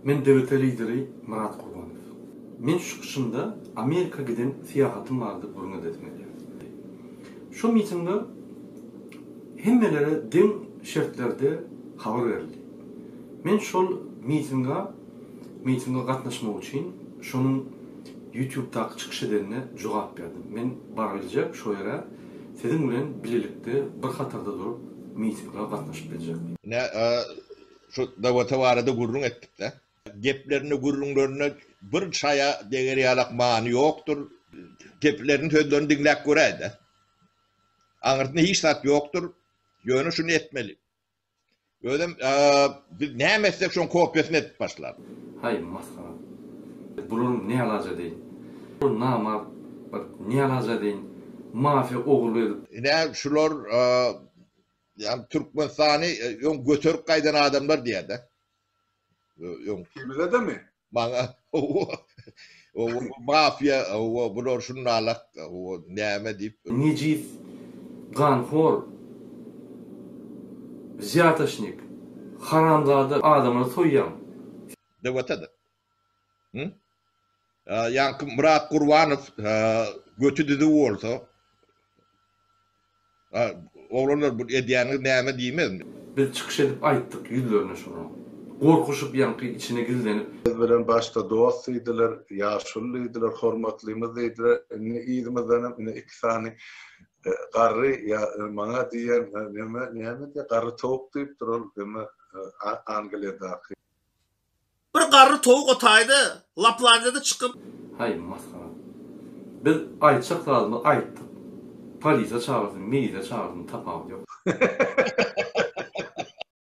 Men döwlete lideri Myrat Gurbanow. Men çykyşymda Amerika giden syýahatym barada gürrüň edesim gelýär. Şol mitingde hemmelere deň şertlerde habar berildi. Men şol mitinga Mitinge gatnaşmak üçin şonuň ýutubdaky çykyş edenine jogap berdim. Men bar biljek şo ýere siziň bilen bilelikde bir hatarda durup mitinge gatnaşyp biljek. Ine şo Dawota barada gürrüň etdikde. Geplerinde gürrüňlerinde bir çaýa deger ýalak many ýokdur. Gepilerini sözlerini diňläp göräýdä. Aňyrsynda hiç zat ýokdur. Ýöne şuny etmeli. Özem biz näme etsek şoň kopýasyny edip başlar. Haý masgara. Biz bularyň nälaja deýin. Ol namart bir nälaja deýin mafiýa ogurlyk edip. Ine şular ýagny Türkmenistany öň göterip gaýdan adamlar diýädä. Öň. Temizedemi? Maňa Howwa, howwa bu mafiýa, howwa bular şundalak, howwa näme diýip. Nejis, ganhor, zýataşnik, haramzada adamyny soýýaň. Dewata-da. Hü? Ýaňky Myrat Gurbanow göti düzüw bolsa. A, oglanlar, bu edýäniňiz näme diýmez. Biz çykyş edip aýtdyk ýüzlerine şonuň. Gorkuşyp ýaňky içine gizlenip. Biz bilen başda dost diýdiler, ýaşuly diýdiler, hormatlymyz diýdiler, indi yzymyzdanam ine iki sany garry ýa maňa diýen neme näme diýýär garry towuk diýipdir ol neme Angliýadaky. Bir garry towuk o taýda Laplandiýada çykyp. Haý, masgara. Biz aýtjak zadymyzy aýtdyk. Polisiýa çagyrsyn, miliýa çagyrsyn, tapawudy ýok.